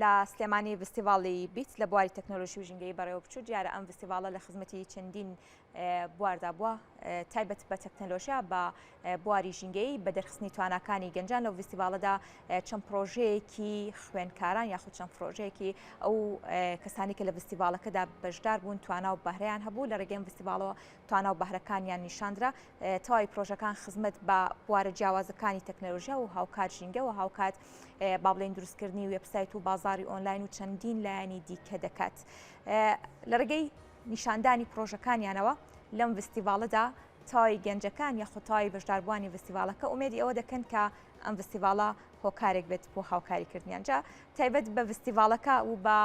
لە سلێمانی ڤستیڤاڵی بیت لە بواری تەکنۆلۆژی و ژینگەیی بەڕێوەبچوو، دیارە ئەم ڤستیڤاڵە لە خزمەتی چەندین بواردا بووە تایبەت بە تەکنەلۆژیا بە بواری ژینگەیی بە دەرخستنی تواناکانی گەنجان لەو ڤستیڤاڵەدا چەند پرۆژەیەکی خوێنکاران یاخود چەند پرۆژەیەکی ئەو کەسانی کە لە ڤستیڤاڵەکەدا بەشدار بوون توانا و بەهرەیان هەبوو لە ڕێگەم ڤستیڤاڵەوە توانا و بەهرەکانیان نیشاندرا تەواوی پرۆژەکان خزمەت بە بوارە جیاوازەکانی تەکنەلۆژیا و هاوکات ژینگەوە هاوکات با بڵێن دروستکردنی وێبسایت و بازاری ئۆنلاین و چەندین لایەنی دیکە دەکات لە ڕێگەی نیشاندانی پرۆژەکانیانەوە لەم ڤستیڤالەدا تای گەنجەکان یە خۆتایی بەشداربووانی ڤستیڤالەکە ئومێدی ئەوە دەکەن کە ئەم ڤستیڤالە هۆکارێک بێت بۆ هاوکاریکردنیان جا تایبەت بە ڤستیڤالەکە و بە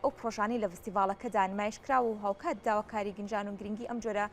ئەو پرۆژانی لە ڤستیڤالەکەدا نمایشکرا و هاوکات داواکاری گنجان و گرنگی ئەم جۆرە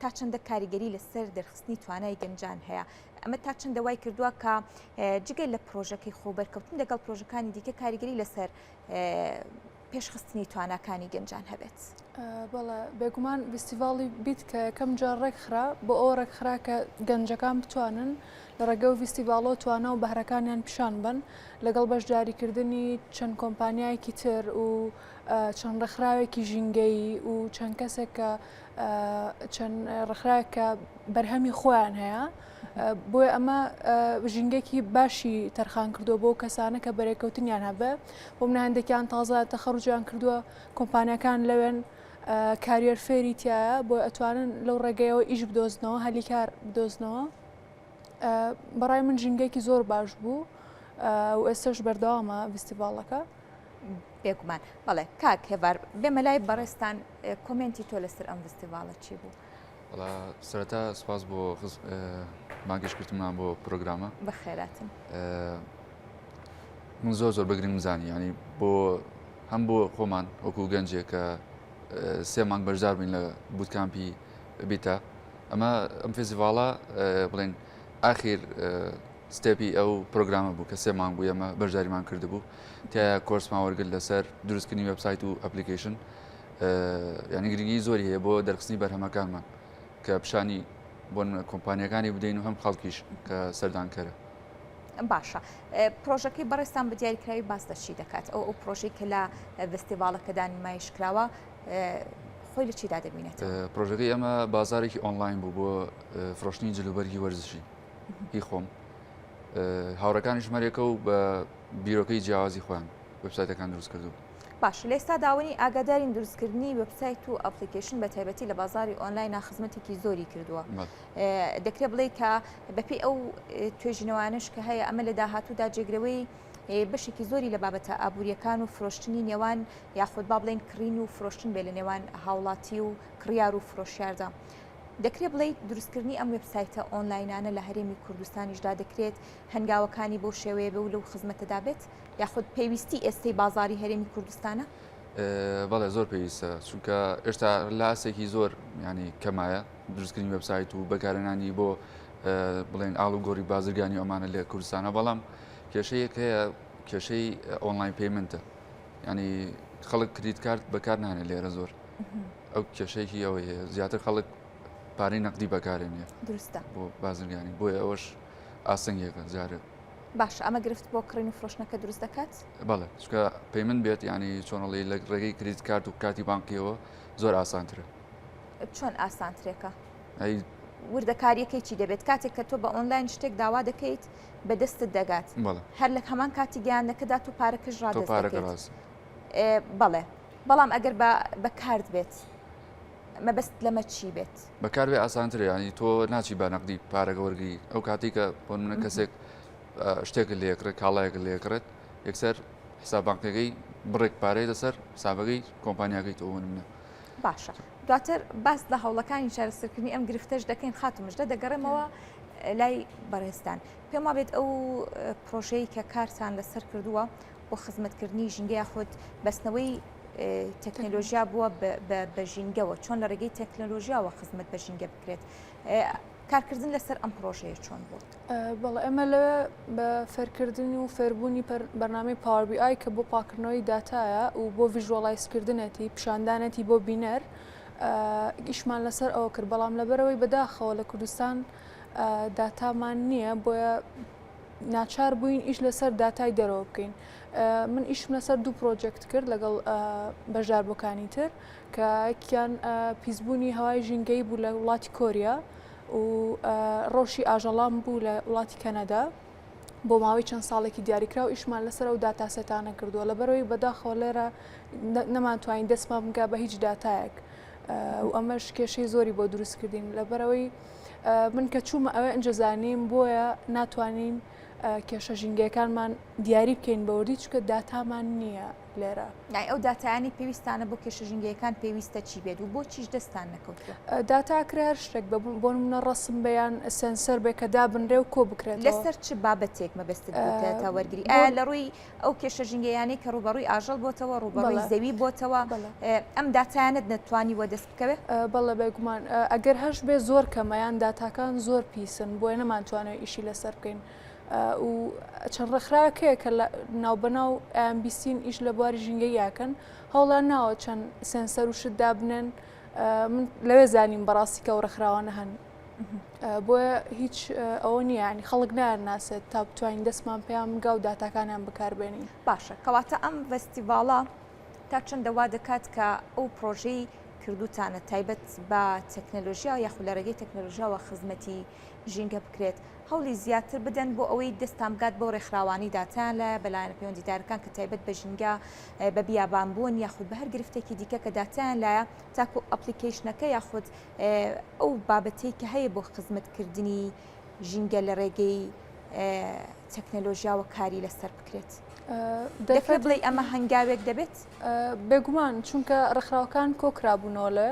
تا چەندە کاریگەری لەسەر دەرخستنی توانای گەنجان هەیە ئەمە تا چەندە وای کردووە کە جگە لە پرۆژەکەی خۆبەرکەوتن لەگەڵ پرۆژەکانی دیکە کاریگەری لەسەر پێشخستنی تواناکانی گەنجان هەبێت بەڵە بێگومان ویستیڤاڵی بیت کە یەکەم جا ڕێکخرا بۆ ئەو ڕێکخرا کە گەنجەکان بتوانن لە ڕێگە و ویستیڤاڵۆ توانا و بەهرەکانیان پیشان بن لەگەڵ بەشداریکردنی چەند کۆمپانیایەکی تر و چەند ڕێکخراوێکی ژینگەیی و چەند کەسێک کە چەند ڕخراوێک کە بەرهەمی خۆیان هەیە بۆیە ئەمە ژینگەێکی باشی تەرخان کردو بۆ کەسانە کە بەرێکەوتنیان هەبێ بۆ منە هەندێکیان تازە تەخەڕجیان کردووە کۆمپانیەکان لەوێن کاریەر فێری تایە بۆ ئەتوانن لەو ڕێگەیەوە ئیش بدۆزنەوە هەلی کار بدۆزنەوە بەڕای من ژینگەێکی زۆر باش بوو و ئێستش بەردەوامە ویستیڤالەکە. بێگومان بەڵێ کاک هێوار بێمە لای بەڕێستان کۆمێنتی تۆ لەسەر ئەم ڤستیڤاڵە چی بوو؟ وڵا سەرەتا سپاس بۆ ماگەشتکردمان بۆ پرۆگرامە بەخێراتن من زۆر زۆر بەگرنگ زانانی ینی بۆ هەم بۆ خۆمان وەکو گەنجێک کە سێ مانگ بەشدار بین لە بوتکامپی بیتا ئەمە ئەم فێزیڤاڵە بڵێن ئاخیر ستێپی ئەو پرۆگرامە بوو کە سێ مانگ بوو ئەمە بەشداریمان کردبوو تیا کۆرسمان وەرگرت لەسەر دروستکردنی وبسایت و ئەپلیکیشن یعنی گرنگی زۆری هەیە بۆ دەرخستنی بەرهەمەکانمان کە پیشانی بۆن کۆمپانیەکانی بدەین و هەم خەڵکیش کە سەردانکەرە باشە پرۆژەکەی بەڕێستان بە دیاریکراوی باس دەچی دەکات ئەو ئەو پرۆژەی کە لە فستیڤالەکەدا نمایش کراوە خۆی لە چیدا دەبینێت پرۆژەکەی ئەمە بازارێکی ئۆنلاین بوو بۆ فرۆشتنی جلوبەرگی وەرزشی هی خۆم هاوڕەکانی ژمارەکە و بە بیرۆکەی جیاوازی خۆیان وێبسایتەکان دروست کردوون. باش لێستا داونی ئاگادارین دروستکردنی وبسایت و ئەپلیکیشن بە تایبەتی لە بازاری ئۆنلاینا خزمەتێکی زۆری کردووە دەکرێت بڵێ کە بەپی ئەو توێژینەوانش کە هەیە ئەمە لە داهاتوودا جێگرەوەی بەشێکی زۆری لە بابەتە ئابوووریەکان و فرۆشتنی نێوان یاخود با بڵێن کڕین و فرۆشتن بێ لە نێوان هاوڵاتی و کڕیار و فرۆشیاردا. دەکرێت بڵیت دروستکردنی ئەم وبسایتە ئۆنلاینانە لە هەرێمی کوردستانیشدا دەکرێت هەنگاوەکانی بۆ شێوەیە بە و لەو خزمەتەدا بێت. یاخود پێویستی ئێستەی بازاری هەرێمی کوردستانە بەڵێ زۆر پێویستە چونکە ئێشتا لاسێکی زۆر ینی کەمایە دروستکردنی وبسایت و بەکارێنانی بۆ بڵێن ئاڵ و گۆری بازرگانی ئەمانە لە کوردستانە بەڵام کێشەیەک هەیە کێشەی ئۆنلاین پەیمنتە ینی خەڵک کریت کارت بەکار نانێ لێرە زۆر ئەو کێشەیەکی ئەوەی هەیە زیاتر خەڵک پارەی نەقدی بەکارێنێ درستە بۆ بازرگانی بۆیە ئەوەش ئاسنگێکە جارێت باش ئەمە گرفت بۆ کڕین و فرۆشتنەکە دروست دەکات بەڵێ چکە پەی من بێت ینی چۆنڵی لە ڕێگەی کریت کارت و کاتی بانقیەوە زۆر ئاسانترە چۆن ئاسانترێکە وردەکاریەکەی چی دەبێت کاتێک کە تۆ بە ئۆنلاین شتێک داوا دەکەیت بە دەستت دەگات هەر لە هەمان کاتی گەیانەکەدا تو پارەکەش ڕات بەڵێ بەڵام ئەگەر بە کارد بێت مەبەست لەمە چی بێت بەکار بێ ئاسانترە ینی تۆ ناچی بە نەقدی پارەگە وەرگی ئەو کاتی کە بۆ منە کەسێک شتێک لێکرێت کاڵایەک لێکرێت یەکسەر حسابانکەکەی بڕێک پارەی لەسەر حسابەکەی کۆمپانیاگەی تۆ منە باشە دواتر باس لە هەوڵەکانی چارەسەرکردنی ئەم گرفتەش دەکەین خاتمشدە دەگەڕێمەوە لای بەڕێستان پێما بێت ئەو پرۆژەی کە کارتان لەسەر کردووە بۆ خزمەتکردنی ژینگە یاخود بەستنەوەی تەکنەلۆژیا بووە بە ژینگەوە چۆن لە ڕێگەی تەکنەلۆژیاوە خزمەت بە ژینگە بکرێت کارکردن لەسەر ئەم پرۆژەیە چۆن بوو بەڵ ئێمە لە بە فەرکردن و فەربوونی بەرنامی پاوەبی ئای کە بۆ پاکردنەوەی داتایە و بۆ ڤژوەڵایسکردنەتی پیشاندانەتی بۆ بینەر گیشمان لەسەر ئەوە کرد بەڵام لەبەرەوەی بەداخەوە لە کوردستان داتامان نییە بۆیە ناچار بووین ئیش لەسەر داتای دەرەوە بکەین من ئیشم لەسەر دوو پرۆجێکت کرد لەگەڵ بەشدار بۆکانی تر کە کیان پیسبوونی هەوای ژینگەی بوو لە وڵاتی کۆریا و ڕۆشی ئاژەڵام بوو لە وڵاتی کەنەدا بۆ ماوەی چەند ساڵێکی دیاریکرا و ئیشمان لەسەر و داتاسێتانە کردووە لە بەرەوەی بەداخەوە لێرە نەمانتوانین دەستمان بگا بە هیچ داتایەک و ئەمەش کێشەی زۆری بۆ دروستکردین لە بەرەوەی من کە چوومە ئەوێ ئەنجە زانیم بۆیە ناتوانین کێشە ژینگەکانمان دیاری بکەین بەوردی چکە داتامان نییە لێرە نای ئەو داتایانی پێویستانە بۆ کێشە ژینگەکان پێویستە چی بێت و بۆ چیش دەستان نەکەوت داتاکرێ هەر شتێک بە بۆ منە ڕسم بەیان سنسەر بێ کە دابنرێ و کۆ بکرێت لەسەر چ بابەتێک مەبەست تا وەرگری ئایا لە ڕووی ئەو کێشە ژینگەیانەی کە ڕوبەڕووی ئاژەڵ بۆتەوە ڕوبەڕووی زەوی بۆتەوە ئەم داتایانت نەتوانی وە دەست بکەوێت بەڵە بێگومان ئەگەر هەش بێ زۆر کەمەیان داتاکان زۆر پیسن بۆیە نەمانتوانێت ئیشی لەسەر بکەین و چەند ڕێکخراکەیە کە لە ناوبەناو ئەمبیسین ئیش لە بواری ژینگە یاکەن هەوڵان ناوە چەند سێنسەر و شت دابنێن من لەوێ زانیم بەڕاستیکە و ڕێکخراوانە هەن بۆیە هیچ ئەوە نییانی خەڵک نار ناسێت تا بتوانین دەستمان پێیان بگا و داتاکانیان بکاربێنین باشە کەواتە ئەم ڤستیڤاڵە تا چەندە وا دەکات کە ئەو پرۆژەی کردوتانە تایبەت بە تەکنەلۆژیا و یاخود لە ڕێگەی تەکنەلۆژیاوە خزمەتی ژینگە بکرێت هەولی زیاتر بدەن بۆ ئەوەی دەستان بگات بۆ ڕێکخراوانی داتیان لە بەلایەنە پەیوەندیدارەکان کە تایبەت بە ژینگە بە بیابان بوون یاخود بە هەر گرفتێکی دیکە کە داتیان لایە تاکو ئەپلیکیشنەکە یاخود ئەو بابەتەی کە هەیە بۆ خزمەتکردنی ژینگە لە ڕێگەی تەکنەلۆژیاوە کاری لەسەر بکرێت دەکرێت بڵێ ئەمە هەنگاوێک دەبێت بێگومان چونکە ڕخراوەکان کۆکرابوونەوە لە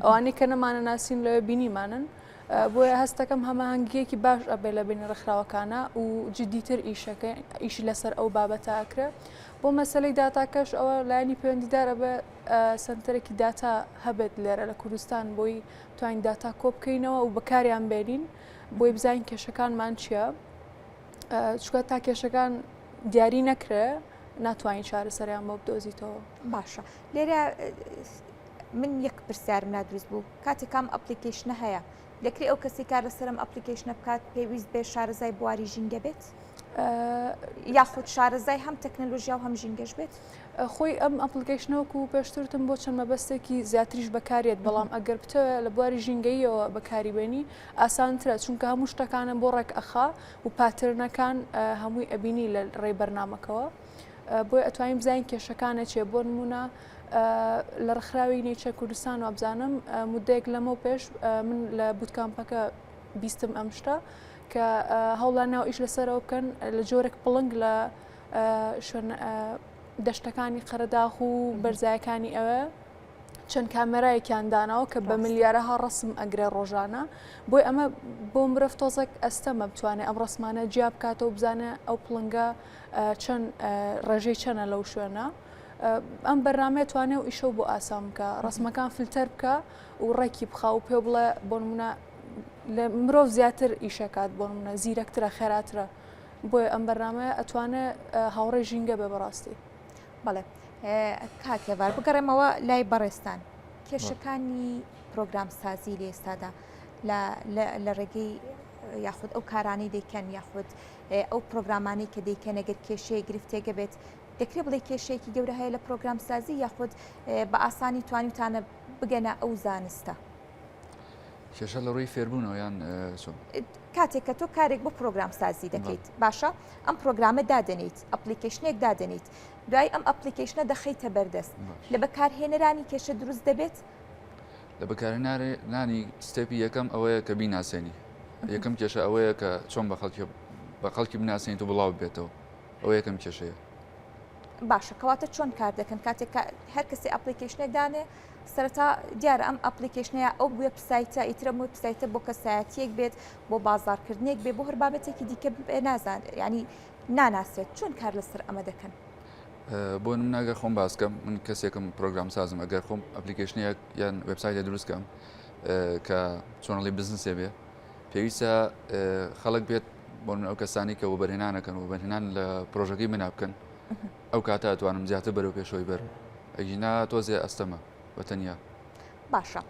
ئەوانی کە نەمانە ناسین لە بینیمانن بۆیە هەستەکەم هەماهنگگیەکی باش ئەبێ لە بینی ڕخراوەکانە و جددیتر ئیشەکە ئیشی لەسەر ئەو بابەتاکرێ بۆ مەسلەی داتاکەش ئەوە لایانی پەیوەندیدارە بە سەنتەرێکی داتا هەبێت لێرە لە کوردستان بۆی توانین داتا کۆ بکەینەوە و بەکاریان بێنین بۆی بزانین کێشەکانمان چییە چکە تا کێشەکان دیاری نەکرێ ناتوانین چارەسەریان بۆ بدۆزیتەوە باشە لێرە من یەک پرسیارم لا دروست بوو کاتێکام ئەپلیکیشنە هەیە دەکرێت ئەو کەسی کار لەسەر ئەم ئەپلیکیشنە بکات پێویست بێ شارەزای بواری ژینگە بێت یاخود شارەزای هەم تەکنەلۆژیا و هەم ژینگەش بێت خۆی ئەم ئەپلیکیشنەوەکو و پێشترتم بۆ چەند مەبەستێکی زیاتریش بەکارێت بەڵام ئەگەر بتەوێت لە بواری ژینگەیەوە بەکاری بێنی ئاسانترە چونکە هەموو شتەکانە بۆ ڕێک ئەخا و پاترنەکان هەمووی ئەبینی لە ڕێی بەرنمەکەەوە بۆیە ئەتوانین بزانین کێشەکانە چێ بۆ نمونە لە ڕخراوی نیچە کوردستان وابزانم مدەیەک لەمە پێش من لە بوتکامپەکە بیستم ئەم شتە کە هەوڵا ناو ئیش لەسەرەوە بکەن لە جۆرێک پڵنگ لە شوێن دەشتەکانی قەرەداخ و بەرزایەکانی ئەوە چەند کامێرایەکیان داناوە کە بە ملیارەها ڕسم ئەگرێ ڕۆژانە بۆی ئەمە بۆ مرۆڤ تۆزەک ئەستەمە بتوانێت ئەم ڕسمانە جیا بکاتەوە بزانە ئەو پڵنگە چەن ڕێژەی چەنە لەو شوێنە ئەم بەرنمەیە توانێ و ئیشەو بۆ ئاسان بکە ڕسمەکان فلتەر بکە و ڕێکی بخە و پێ بڵێ بۆ منە لە مرۆڤ زیاتر ئیشەکات بۆ منە زیرەکترە خێراترە بۆیە ئەم بەرنمەیە ئەتوانێ هاوڕێ ژینگە بێ بەڕاستی بەڵێ کاک هێوار بگەڕێمەوە لای بەڕێستان کێشەکانی پرۆگرام سازی لە ئێستادا لە ڕێگەی یاخود ئەو کارانەی دەکەن یاخود ئەو پرۆگرامانەی کە دەیکەن گەر کێشەیە گرفتێگە بێت دەکرێت بڵێ کێشەیەکی گەورە هەیە لە پرۆگرامسازی یاخود بە ئاسانی توانیتانە بگەنە ئەو زانستە کێشە لە ڕووی فێربوونەوە یان کاتێک کە تۆ کارێک بۆ پرۆگرام سازی دەکەیت باشە ئەم پرۆگرامە دادەنیت ئەپلیکیشنێک دادەنیت دوای ئەم ئەپلیکیشنە دەخیتە بەردەست لە بەکارهێنەرانی کێشە دروست دەبێت لە بەکارهێنانی ستێپی یەکەم ئەوەیە کە بیناسێنی یەکەم کێشە ئەوەیە کە چۆن بە خەڵکی بە خەڵکی بناسێنیت و بڵاو بێتەوە ئەو یەکەم کێشەیە باشە کەواتە چۆن کار دەکەن کاتێک هەر کەسی ئەپلیکیشنێ دانێ سەرەتا دیارە ئەم ئەپلیکیشنەیە ئەو بێ پسایتە ئیترە مووی پسایتە بۆ کەسایەتیەک بێت بۆ بازارکردنێک بێ بۆ هەر بابەتێکی دیکە بێ نازان ینی ناناسێت چۆن کار لەسەر ئەمە دەکەن بۆ نمونە ئەگەر خۆم باس بکەم من کەسێکم پرۆگرام سازم ئەگەر خۆم ئەپلیکیشنێک یان وبسایتە دروست بکەم کە چۆنڵی بزنسێ بێ پێویستە خەڵک بێت بۆ من ئەو کەسانی کە وبەرهێنانەکەن و بەرهێنان لە پرۆژەکەی منا بکەن ئەو کاتە ئەتوانم زیاتر بەرەو پێشەوەی بەر ئەگینا تۆزێ ئەستەمە بە تەنیا باشە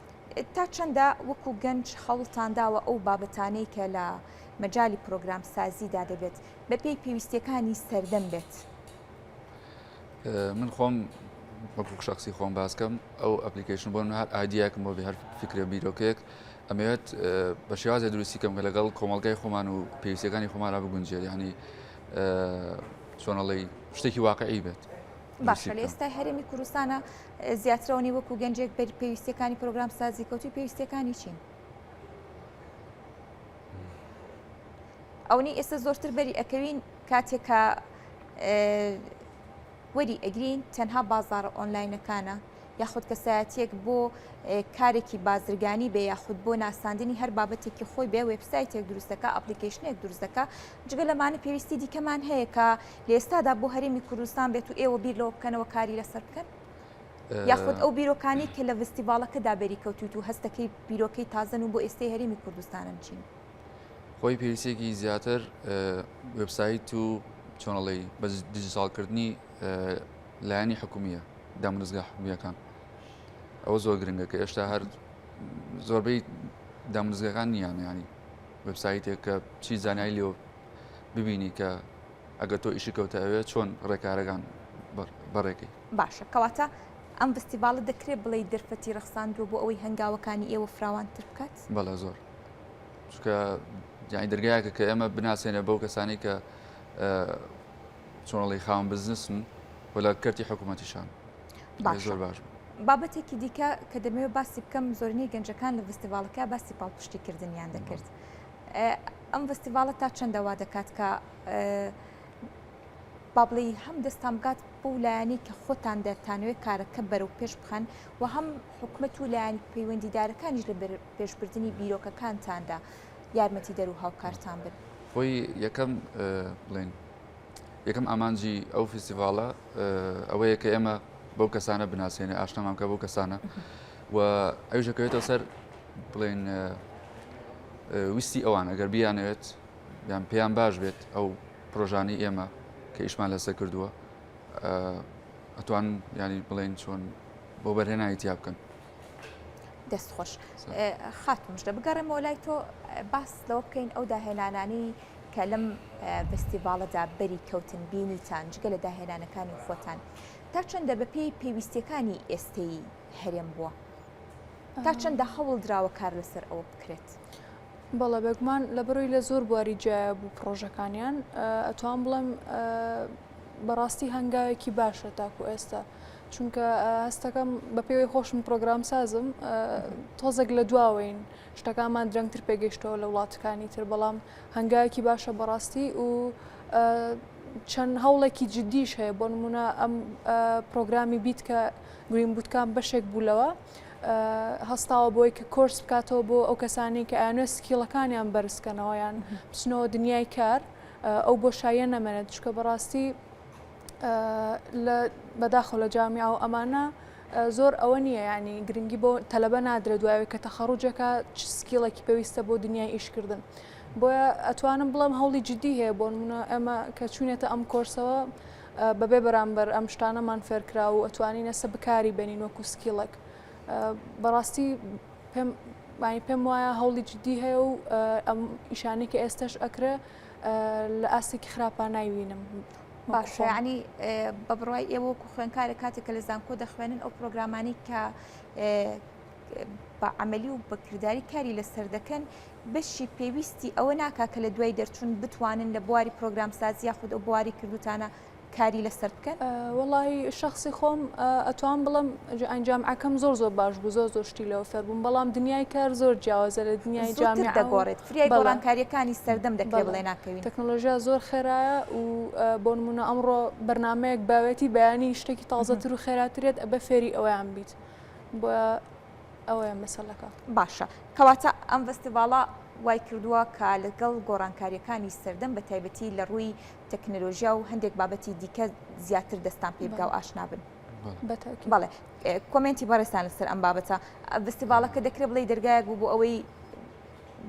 تا چەندە وەکو گەنج خەوڵتان داوە ئەو بابەتانەی کە لە مەجای پرۆگرام سازیدا دەبێت بە پێی پێویستیەکانی سەردەم بێت. من خۆم وەکو شخصی خۆم باسکەم ئەو ئەپلیکیشن بۆ هەر ئایدیاکم بۆ هەر فکرە بیرۆکێک ئەمەوێت بە شێوازە دروستی کەم کە لەگەڵ کۆمەلگای خۆمان و پێویستەکانی خۆمانرا بگونجێت ینی چۆنەڵی شتێکی واقعی بێت. باشە لە ئێستای هەرێمی کوردستانە زیاترەوەنی وەکو گەنجێک بەر پێویستەکانی پرۆگرام سازی کەوتی پێویستەکانی چین؟ ئەونی ئێستا زۆرتر بەری ئەکەوین کاتێکە وەری ئەگرین تەنها بازارە ئۆنلاینەکانە یاخود کەسایەتیەک بۆ کارێکی بازرگانی بێ یاخود بۆ ناساندنی هەر بابەتێکی خۆی بێ وبسایتێک دروستەکە ئەپلیکیشنێک دروستەکە جگە لەمانە پێویستی دیکەمان هەیە کە لێستادا بۆ هەرێمی کوردستان بێت و ئێوە بیر لەوە بکەنەوە کاری لەسەر بکەن یاخود ئەو بیرۆکانی کە لە ڤستیڤالەکەدا بەری کەوتوت و هەستەکەی بیرۆکەی تازن و بۆ ئێستای هەرێمی کوردستانن چین خۆی پێویستێکی زیاتر وبسایت و چۆنڵی بە دیجیتالکردنی لایەنی حکومیە دامنزگا حکومیەکان ئەوە زۆر گرنگە کە ئێشتا هەر زۆربەی دامنزگەکان نییان ینی وبسایتێک کە چی زانایی لێ ببینی کە ئەگەر تۆ ئیشی کەوتە ئەوێ چۆن ڕێکارەکان بەڕێکی باشە کەواتە ئەم فستیڤالە دەکرێت بڵێ دەرفەتی ڕخساندووە بۆ ئەوەی هەنگاوەکانی ئێوە فراوانتر بکات بەڵێ زۆر چکە جانی دەرگایەکە کە ئێمە بناسێنە بەو کەسانی کە چۆنڵی خاون بزنسن و لە کەرتی حکوومەتیشان زۆر باش. بابەتێکی دیکە کە دەمەوێت باسی بکەم زۆرنی گەنجەکان لە فستیڤالەکە باسی پاڵپشتی کردنیان دەکرد. ئەم فستیڤالە تا چەندەوا دەکات کە بابلی هەم دەستان بگات بۆ لایەنی کە خۆتان دەتانوێت کارەکە بەرەو پێش بخەن و هەم حکومت و لایەن پەیوەندیدارەکانیش لە پێشبردنی بیرۆکەکانتاندا یارمەتیدەر و هاوکارتان بن؟ خۆی یەکەم بڵێن یەکەم ئامانجی ئەو فیستیڤاڵە ئەوەیە کە ئێمە بەو کەسانە بناسیێنێ ئاشنامان کە بۆ کەسانە و ئەوژەکەوێتەوە سەر بڵێن ویستی ئەوان ئەگەر بیانەوێت یان پێیان باش بێت ئەو پرۆژانی ئێمە کە ئیشمان لەسەر کردووە ئەتوان ینی بڵێن چۆن بۆ بەرهێنانی تیا بکەن دەست خۆش خاتمشتە بگەڕێمەوە لای تۆ باس لەوە بکەین ئەو داهێنانانی کە لەم فستیڤالەدا بەری کەوتن بینیتان جگە لە داهێنانەکانی خۆتان تا چەندە بەپی پێویستیەکانی ئێستەی هەرێم بووە تا چەندە هەوڵ دراوە کار لەسەر ئەوە بکرێت. بەڵە بەگومان لە بڕووی لە زۆر بواری جیایە بوو پرۆژەکانیان ئەتوان بڵێم بەڕاستی هەنگاوێکی باشە تاکو ئێستا چونکە هەستەکەم بە پێوەی خۆشم پرۆگرام سازم تۆزێک لە دواوەین شتەکانمان درەنگتر پێگەیشتەوە لە وڵاتەکانی تر بەڵام هەنگایەکی باشە بەڕاستی و چەند هەوڵێکی جددیش هەیە بۆ نمونە ئەم پرۆگرامی بیت کە گرین بوتکان بەشێک بوو لەوە هەستاوە بۆی کە کۆرس بکاتەوە بۆ ئەو کەسانی کە ئەیانێ سکیڵەکانیان بەرزکەنەوەیان بچنەوە دنیای کار ئەو بۆ شایە نەمێنێت چکە بەڕاستی لە بەداخەوە لە جامیا و ئەمانە زۆر ئەوە نییە ینی گرنگی بۆ تەلبە نادرێت دوایەوەی کە تەخەڕوجەکە چ سکیڵێکی پێویستە بۆ دنیای ئیشکردن بۆیە ئەتوانم بڵێم هەوڵی جددی هەیە بۆن منە ئەمە کە چوینێتە ئەم کۆرسەوە بەبێ بەرامبەر ئەم شتانەمان فێرکرا و ئەتوانین ئەسە بکاری بێنین وەکو سکیڵێک بەڕاستی پێم مای پێم وایە هەوڵی جددی هەیە و ئەم ئیشانی کە ئێستش ئەکرێ لە ئاستێکی خراپە نایوینم باشەنی بە بڕای ئێوە و خوێنکارە کاتێک کە لە زانکۆ دەخوێنن ئەو پرۆگرامانی کە بە عملی و بەکردداری کاری لەسەر دەکەن بەشی پێویستی ئەوە ناکا کە لە دوای دەرچوون بتوانن لە بواری پرۆگرام سازیا خود ئەو بواری کردوتانە کاری لەسەر بکەن وڵی شخصی خۆم ئەتوان بڵم ئەنجام ئەەکەم زۆر زۆر باش بوو زۆر زۆر شتی لەوە فەربووم بەڵام دنیای کار زۆر جیاوازە لە دنیای جامی دەگۆڕێت فریای گۆڕانکاریەکانی سەردەم دەکرێ بڵێ ناکەوین تەکنۆلۆژیا زۆر خێرایە و بۆ نمونە ئەمڕۆ بەرنمەیەک باوێتی بەیانی شتێکی تازەتر و خێراترێت ئەبە فێری ئەویان بیت بۆ ئەوەیە مەسەلەکە باشە کەواتە ئەم فستیڤاڵە وای کردووە کە لەگەڵ گۆڕانکاریەکانی سەردەم بە تایبەتی لە ڕووی تەکنەلۆژیا و هەندێک بابەتی دیکە زیاتر دەستان پێ بگا و ئاشنابن بەڵێ کۆمنتی بەڕێستان لەسەر ئەم بابەتە فستیڤالەکە دەکرێت بڵی دەرگایەک بوو بۆ ئەوەی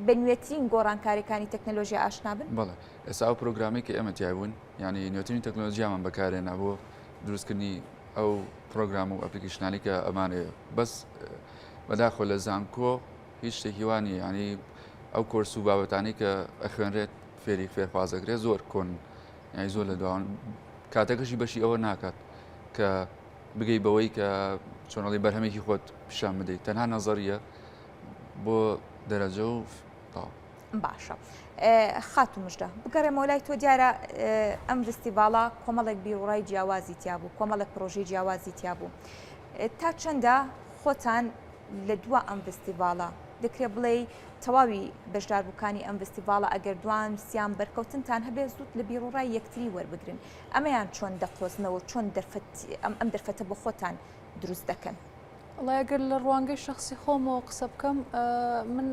بە نوێترین گۆڕانکاریەکانی تەکنەلۆژیا ئاشنا بن؟ بەڵێ ئێستا ئەو پرۆگرامەی کە ئێمە تیای بوون یعنی نوێترین تەکنەلۆژیامان بەکارێنا بۆ دروستکردنی ئەو پرۆگرام و ئەپلیکیشنانی کە ئەمانێ بەس بەداخۆ لە زانکۆ هیچ شتێکی وانی ینی ئەو کۆرس و بابەتانی کە ئەخوێنرێت فێری فێرخوازەکرێت زۆر کۆن یانی زۆر لە دواون کاتەکەشی بەشی ئەوە ناکات کە بگەی بەوەی کە چۆنەڵی بەرهەمێکی خۆت پیشان بدەیت تەنها نەزەریە بۆ دەرەجە و تاو. باشە خاتو مژدە بگەڕێمەوە لای تۆ دیارە ئەم فستیڤاڵە کۆمەڵێک بیرڕای جیاوازی تیا بوو کۆمەڵێک پرۆژی جیاوازی تیا بوو تا چەندە خۆتان لە دوا ئەم فستیڤاڵە دەکرێت بڵێ تەواوی بەشداربووکانی ئەم فستیڤاڵە ئەگەر دوان سیان بەرکەوتنتان هەبێت زووت لە بیرڕای یەکتری وەربگرن ئەمەیان چۆن دەقۆزنەوە چۆن دەرفەت ئەم ئەم دەرفەتە بۆ خۆتان دروست دەکەن. وەڵا ئەگەر لە ڕوانگەی شخصی خۆمەوە قسە بکەم من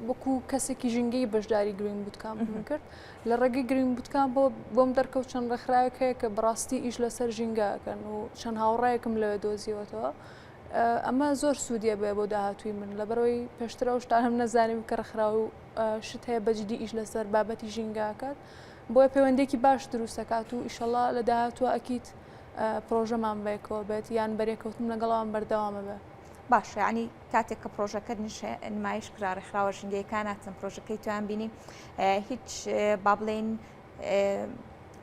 وەکو کەسێکی ژینگەی بەشداری گرین بوتکان کرد لە ڕێگەی گرین بوتکان بۆ بۆم دەرکەوت چەند ڕێکخراوێک هەیە کە بڕاستی ئیش لەسەر ژینگەکەن و چەند هاوڕایەکم لەوێ دۆزیەوەتەوە ئەمە زۆر سوودیە بێ بۆ داهاتووی من لەبەرەوەی پێشترە و شتانم نەزانیم کە ڕخرا و شت هەیە بەجددی ئیش لەسەر بابەتی ژینگاکات بۆیە پەیوەندێکی باش دروستەکات و ئیشەڵا لە داهاتوە ئەکییت پرۆژەمان بەیەکەوە بێت یان بەرێکەوتن لەگەڵ ئەوان بەردەوامە بێ باشە ینی کاتێک کە پرۆژەکەت نمایش کرا ڕێکخراوە ژنگەیەکاناتن پرۆژەکەی تویان بینی هیچ با بڵێن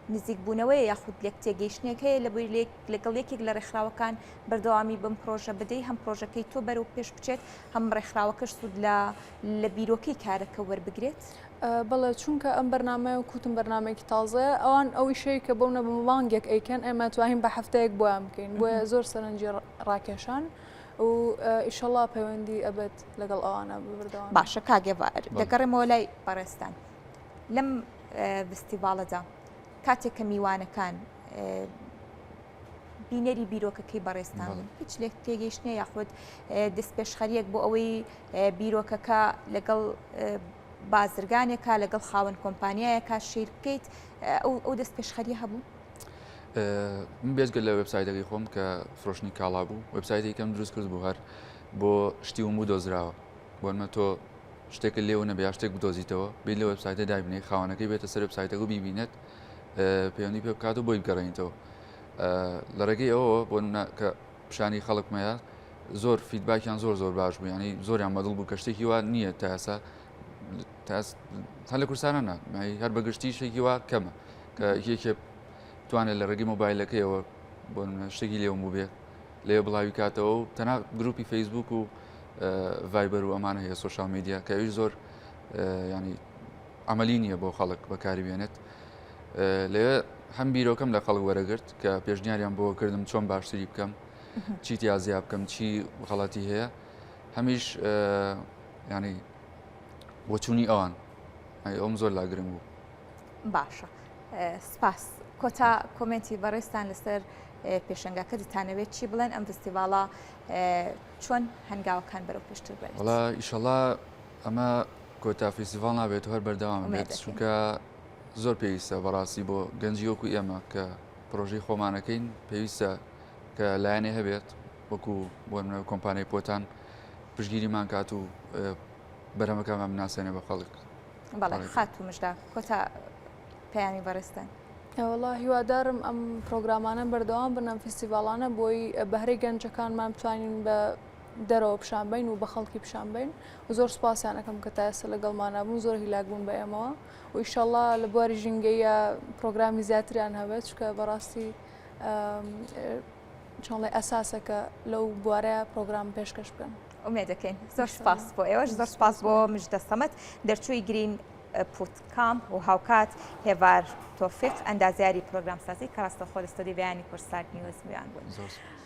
نزیک بوونەوەی یاخود لێک تێگەیشتنێک هەیە لە بۆی لێک لەگەڵ یەکێک لە ڕێکخراوەکان بەردەوامی بم پرۆژە بدەی هەم پرۆژەکەی تۆ بەرەو پێش بچێت هەم ڕێکخراوەکەش سوود لە لە بیرۆکەی کارەکە وەربگرێت؟ بەڵێ چونکە ئەم بەرنمەیە و کوتم بەرنمێکی تازەیە ئەوان ئەو ئیشەیە کە بۆ نەبوو مانگێک ئەیکەن ئێمە توانین بە هەفتەیەک بۆیان بکەین بۆیە زۆر سەرنجی ڕاکێشان و ئیشەڵا پەیوەندی ئەبێت لەگەڵ ئەوانە ببردەوە باشە کاگێوار دەگەڕێمەوە لای بەڕێستان لەم فستیڤالەدا کاتێک کە میوانەکان بینەری بیرۆکەکەی بەڕێزتان بوون هیچ لێک تێگەیشتنە یاخود دەستپێشخەریەک بۆ ئەوەی بیرۆکەکە لەگەڵ بازرگانێکە لەگەڵ خاوەن کۆمپانیایەکە شیر بکەیت ئەو دەست پێشخەری هەبوو من بێزگە لە وبسایدەکەی خۆم کە فرۆشتنی کاڵا بوو وبسایدی کەم دروست کرد بوو هەر بۆ شتی وم بوو دۆزراوە بۆنمە تۆ شتێکە لێو نەبێ شتێک بدۆزیتەوە بێ لە وبسایدە دابنێ خاونەکەی بێتە سەر وبسایدەگو بیبینێت پەیوەندی پێ بکات و بۆی بگەڕێنیتەوە لە ڕێگەی ئەوەوە بۆ کە پیشانی خەڵک مەیە زۆر فیدباکیان زۆر زۆر باش بوو ینی زۆریان مەدڵ بوو کە شتێکی وا نییە تاسا هەر لە کورسانە نا هەر بەگشتی شتێکی وا کەمە کە یەکێ توانێت لە ڕێگەی مۆبایلەکەیەوە بۆ شتێکی لێوم بوو بێ لێ بڵاوی کاتەوە و تەنا گروپی فەیسبوک و ڤایبەر و ئەمانە هەیە سوۆشال میدیا کەویش زۆر ینی عەمەلی نییە بۆ خەڵک بەکاری بێنێت لەوێ هەم بیرۆکەم لە خەڵک وەرەگرت کە پێشنیاریان بۆ کردم چۆن باشتری بکەم چی تیازیا بکەم چی غەڵەتی هەیە هەمیش ینی وەچوونی ئەوان ئەوم زۆر لاگرنگ بوو باشە سپاس کۆتا کۆمنتی بەڕێستان لەسەر پێشنگاکە دتانەوێت چی بڵێن ئەم فستیڤالە چۆن هەنگاوەکان بەرەو پێشتر بێت وڵا ئیشەڵا ئەمە کۆتا فیسیڤاڵ نابێت هەر بەردەوام بێت چونکە زۆر پێویستە بەڕاستی بۆ گەنجی وەکو ئێمە کە پرۆژەی خۆمانەکەین پێویستە کە لایەنێ هەبێت وەکو بۆ منە کۆمپانیای پۆتان پشگیریمان کات و بەرەمەکەمان بناسێنە بە خەڵک بەڵێ خات و مژدا کۆتا پەیامی بەڕستن. وڵا هیوادارم ئەم پرۆگرامانە بەردەوام بنەم فیسیڤالانە بۆی بەهرەی گەنجەکانمان بتوانین بە دەرەوە پیشان بین و بە خەڵکی پیشان بین و زۆر سپاسیان ئەەکەم کە تا ئێستا لەگەڵمانابوون زۆر هیلاک بوون بە ئێمەوە و ئیشەڵا لە بواری ژینگەیە پرۆگرامی زیاتریان هەبێت چکە بەڕاستی چۆڵێ ئەساسە کە لەو بوارە پرۆگرام پێشکەش بکەن ئومێ دەکەین زۆر سپاس بۆ ئێوەش زۆر سپاس بۆ مش دەستەمەت دەرچووی گرین پوتکام و هاوکات هێوار تۆفیق ئەندازیاری پرۆگرامسازی کەڕاستەخۆ لە ستۆدی بەیانی کورسات نیوز میان بوون.